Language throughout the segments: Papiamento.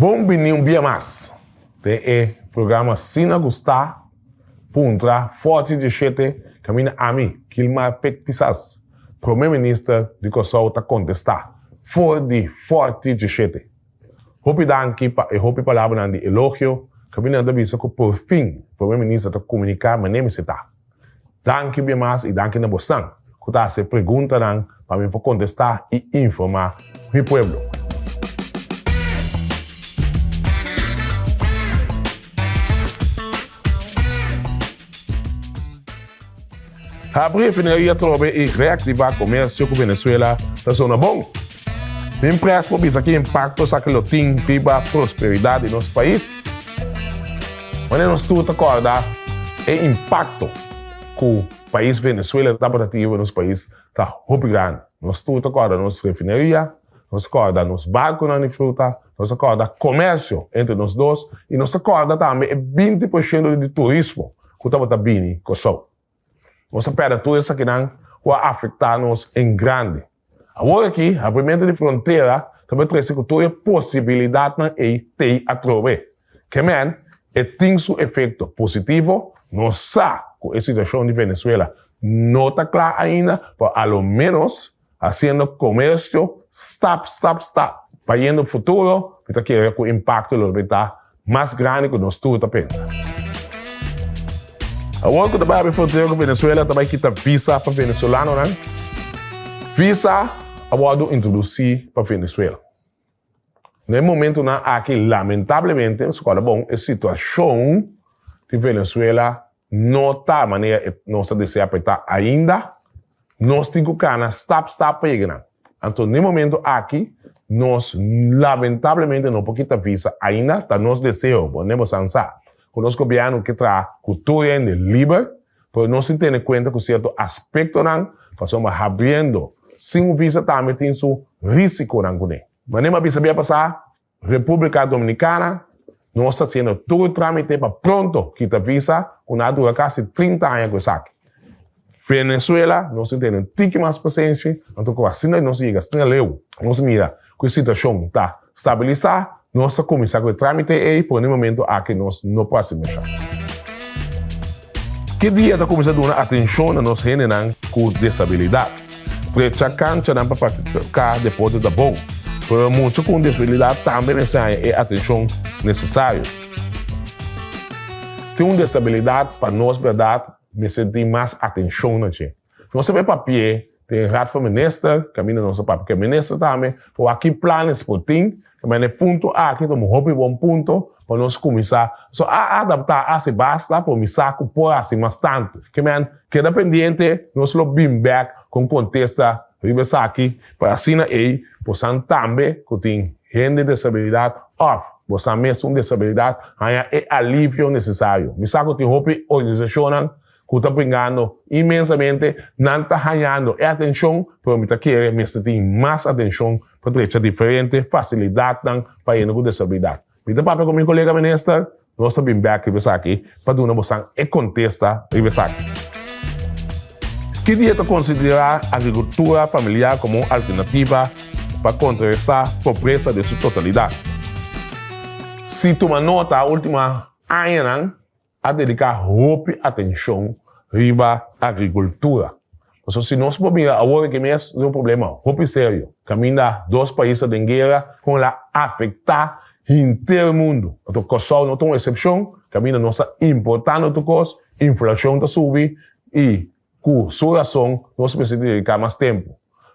Bon bini un bia mas den e programa Sina ku Sta puntra fòrti djeshete kaminda ami, Kilmar Pek Pisas, Prome Minister di Kòrsou ta kontestá for di fòrti djeshete. Hopi danki pa e hopi palabranan di elogio kaminda nan ta bisa ku por fin Prome Minister ta komuniká mané mi setá. Danki bien mas y danki na bosnan cu ta hace preguntanan pa mi por contesta y informa mi pueblo. Habri e fineria trobe y reactiva comercio cu Venezuela ta zona bon. Min pres por bisa ki impakto esaki lo tin riba prosperidat di nos pais. Wanneer nos tur ta kòrda e impakto ku pais Venezuela tabata tin riba nos pais ta hopi grandi. Nos tur ta kòrda nos refineria, nos ta kòrda nos barkunan di fruta, nos ta kòrda komèrsio entre nos dos i nos ta kòrda tambe e binti por shento di turismo ku tabata bini Kòrsou. Nos a pèrdè tur esakinan ku a afektá nos en grandi. Awor aki, abrimentu di frontera ta por trese ku tur e posibilidatnan ei t'ei atrobe. Kemen, e tin su efekto positivo. Nos sa ku e situashon di Venezuela no ta kla ainda, pero a lo ménos hasiendo komersio stap, stap, stap, bayendo futuro, mi ta kere ku impakto lo debí ta Mas grandi cu nos tur ta pensa. Awor cu ta bai habé frontera cu Venezuela ta bai kita visa pa Venezolanonan, visa a wordo introduci pa Venezuela. Na e momentonan aki lamentablemente, scola bon, e situacion di Venezuela, No ta manera e nos ta desea pa e ta ainda. Nos tin cu cana stap stap pa yega nan. Anto n'e momento aki nos lamentablemente no por kita visa ainda. Ta nos deseo, bo nebo san sa, cu nos gobierno ke traha cu tur hende liber, pero nos tin tene cuenta cu cierto aspectonan pasobra habriendo sin un visa tambe tin su risiconan cune. Manera mi a bisa bia pasa, Repúblika Dominikana, nos ta hasiendo tur trámite pa pronto kita visa ku nan a dura kasi trinta aña ku esaki. Venezuela, nos tin tene un tiki mas pasenshi, anto ku asina nos yega stringa leu. Nos mira ku e situashon ta stabilisá, nos ta kuminsá ku e trámite ei, pero na e momentu aki nos no por hasi masha. Ki dia ta kuminsá duna atenshon na nos hendenan ku disabilidat? Frecha kanchanan pa praktiká deporte ta bon, pero mucha ku un disabilidat tambe mester haña e atenshon nesesario. Tin un disabilidat pa nos bèrdat mester tin mas atenshon na dje. Nos ta bay papia den Raad van Minister, caminda nos ta papia cu e Minister tambe, pa wak ki planes por tin, ta mira e punto aki, ta un hopi bon punto pa nos cuminsa, so a adapta asi basta por misa cu por hasi mas tanto. Ke men, keda pendiente, nos lo bin bek con contesta riba esaki, pa asina ey bosan tambe cu tin hende desabilidad of bosan mes un desabilidad haya e alivio necesario. Misa cu tin hopi organisacionnan Ku ta pringando inmensamente, nan ta hañando e atenshon, pero mi ta kere mester tin mas atenshon pa trecha diferente fasilidatnan pa hende ku disabilidat. Mi ta papia ku mi kolega minister, nos ta bin bèk riba esaki pa duna bosan e kontesta riba esaki. Ki dia ta konsiderá agrikultura familiar komo un alternativa pa kontraresá pobresa den su totalidat? Si tuma nota último añanan, a dedica hopi atencion riba agricultura. Pasobra si nos por mira awor aki mes tin un problema hopi serio caminda dos pais ta den guera con el a afecta henter mundo. Anto Cosao no ta un excepcion caminda nos ta importando tur cos, inflacion ta subi y. Ku su rason nos mester di dediká mas tempu.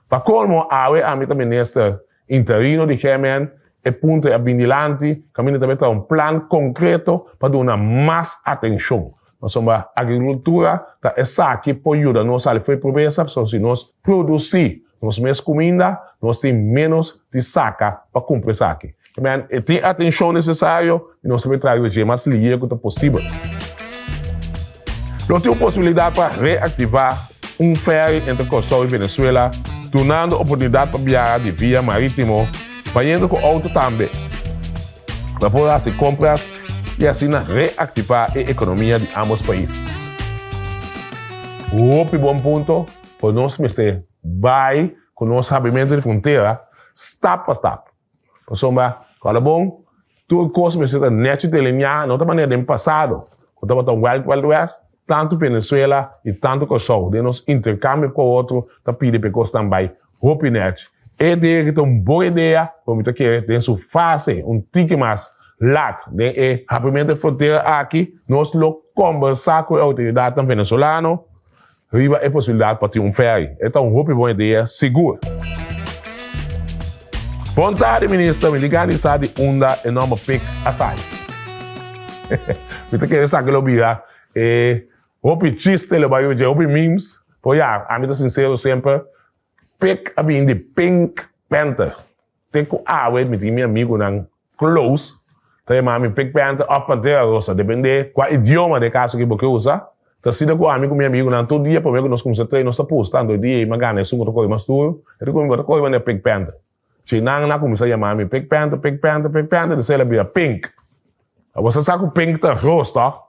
Pa kolmo, awe ami ta minister interino di GMN, e punto ei a bin dilanti, kaminda ta mester a un plan konkreto pa duna mas atenshon. Pasobra agrikultura ta esaki por yuda nos sali fo'i di pobresa, pasobra si nos produsí nos mes cuminda, nos tin menos di saca pa cumpli esaki. Amen. E tin atencion necesario y nos ta por trae dje mas lihe cu ta posibel. Lo tin un posibilidad pa reactiva un ferry entre Curaçao y Venezuela, dunando oportunidad pa biaha di via maritimo, bayendo cu auto tambe. Lo por haci compras y asina reactiva e economia di ambos pais. Hopi bon punto! Pues nos mester bai cu nos habimentu di frontera stap pa stap. Pasobra, ora bon, tur cos mester ta nechi delineá, no ta manera den pasado, cu tabata un Wild Wild West, tantu Venezuela y tantu Curaçao, den nos intercambio e cu e otro, ta pidi pa e cosnan bai hopi nechi. E idea aki ta un bon idea, pero mi ta kere den su fase un tiki mas lat. Den e habimentu di frontera aki, nos lo combersa cu e autoridadnan Venezolano, Riba e posibilidat pa tin un feri, e ta un hopi bon idea sigur. Bontadi Minister, mi di gani sa di unda e nomber pik a sali. Mi ta kere sa ke lo bira e hopi chiste, lo bai oye hopi memes, pero ya, ami ta sincero semper, pik a bini di pink panther. Te ku awe mi tin mi amigunan close ta yama mi pik pènta òf pantera rosa, dependé kua idioma den e kaso aki bo ke usa. Ta asina ku ami ku mi amigunan tur dia promé ku nos kuminsá trei nos ta pusta anto e dia ei mi a gana esun ku ta kore mas duru, e di ku mi bo ta kore manera pik pènta. Chi nan a kuminsá yama mi pik pènta, pik pènta, pik pènta despues el a bira pink. Bo sa sa ku pink ta ros tò?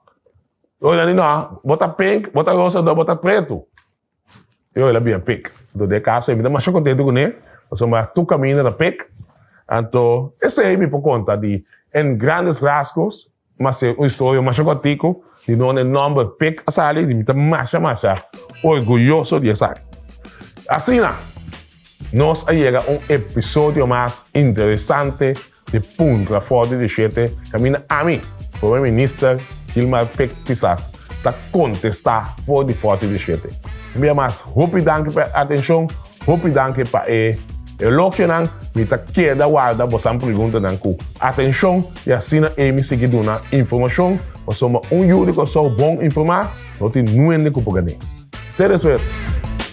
Oinan di no, bo ta pink, bo ta rosa dor bo ta pretu. Te oe la bia pek. Anto den e casa mi ta masha contento cu ne, pasobra mi a tur caminda na pek. Anto esey mi por conta di en grandes rasgos, mas e un historia masha cortico di donde e nomber pek a sali, di mi ta masha masha orguyoso di esaki. Asina nos a yega un episodio mas interesante Di punto na for di dishete caminda ami, Promer Minister Gilmar Pik Pisas ta contesta for di forti dishete. Un bia mas hopi danki pa e atencion, hopi danki pa e elogianan, mi ta keda warda bosan preguntanan cu atencion y asina ey mi sigui duna informacion pasobra un yu di Kòrsou bon informa no tin nuende cu por gane. Te despues.